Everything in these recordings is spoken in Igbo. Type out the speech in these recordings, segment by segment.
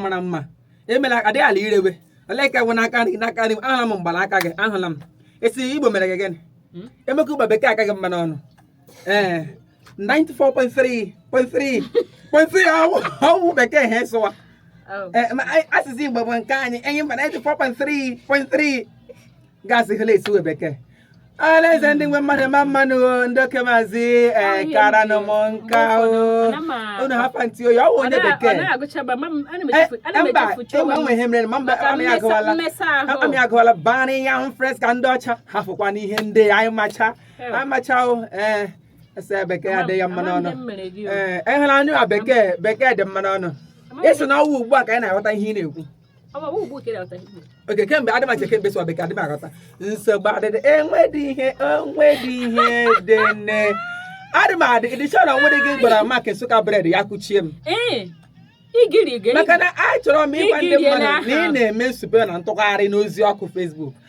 mara mma emela adịghị ala irewe olee ka bụ n'aka nri n'aka nri ahụla m mgbalaka gị ahụla m ị sị igbo mere gị gịnị hmm? emeka ụba bekee aka gị mma n'ọnụ ee 94.3 ọ wụ bekee ha esụwa oh. asụsụ igbo bụ nke anyị enyi mba 94.3 gasị hụla esụwa bekee alaeze ndị nwe mmadụ mma mma nụ o, ndị oke maazị ee Ahịa kara nọ m nke nka o ụfọdụ, ana m a- unu hapa ntị oyi ọ wụ onye bekee Eh, eh, mba enwe enwe ihe mere ma mba Maka amị mmesa- agụwala mmesa ahụ. amị agụwala bani ya ahụ fresh ka ndị ọcha hafụkwanụ ihe ndị anyị macha Eh. anyị macha o ee ese bekee Ama- adịghị ya mma ama n'ọnụ ndị m mere gị o. ee ehụla anyụ a bekee bekee dị mma n'ọnụ Ama m- ị sị na ọ wụ ugbu a ka anyị na-aghọta ihe ị na-ekwu okay kemgbe adị macha kemgbe ị sụwa bekee adị m aghọta nsogbu adịdị enwedị ihe enwedị ihe dị nne adị m adị ịdịcha na nwere gị gwara maka Nsụka bread ya kụchie m maka na achọrọ m ịgwa ndị mmadụ na ị na-eme nsụpe na ntụgharị n'ozi ọkụ Facebook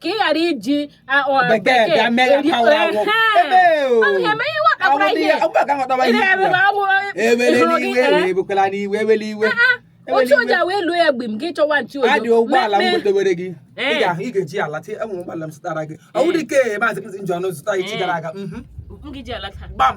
ka ị ghara iji bekee otu oji awa elu ya mgbe m gị chọwa nchi ojo adị ụgbọala m gotewere gị ị ga-eji ala tie enwe ụgbọala m zụtara gị ọ bụrụ ike maazị m ji ọnụ zụta echi gara aga gbam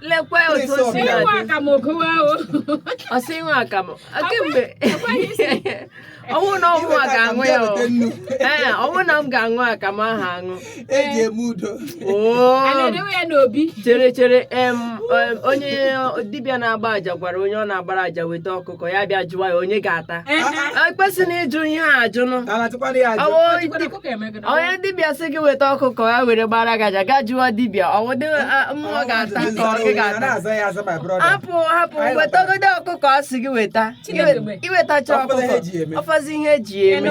lekwe otu o si Onye nwe adị akamụ gụwa o. ọ sị ịṅụ akamụ kemgbe ọ wụ na ọ mụa ga-aṅụ ya o. ee ọ wụ na m ga-aṅụ akamụ ahụ aṅụ eji eme udo A oo na-edewe ya n'obi. chere chere em em, onye dibịa na-agba aja gwara onye ọ na-agbara aja weta ọkụkọ ya bịa jụwa ya onye ga-ata Ee, ee. e kwesịrị ịjụ ihe a ajụ nụ ala tụkwara ya ajụ Ọ wụ onye dibịa sị gị weta ọkụkọ ya were gbara gị aja gị ajụwa dibịa ọ wụdị mmụọ ga-ata ka ọ gị ga-ata hapụ hapụ wetagodo ọkụkọ ọ sị gị weta i wetacha ọkụkọ ọ fọzi ihe eji eme